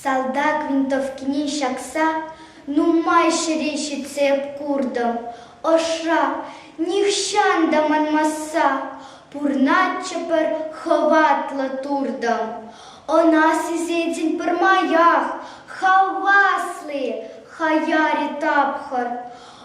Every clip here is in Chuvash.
Салтак винтовкине ҫакса нумай ҫӗре ҫитсе куртӑм. Ӑшра нихҫан та манмасса пурнатчӗ пӗр хӑватлӑ туртӑм. Ӑна сисетӗн пӗрмаях, хавасли, хаяри тапхӑр.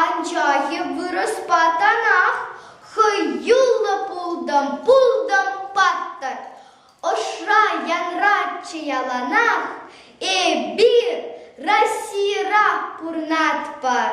Анчахӗ вырӑспатанах хӑюллӑ пултӑм, пултӑм паттӑр. Ӑшра янратчӗ яланах, эпир Российӑра пурӑнатпӑр.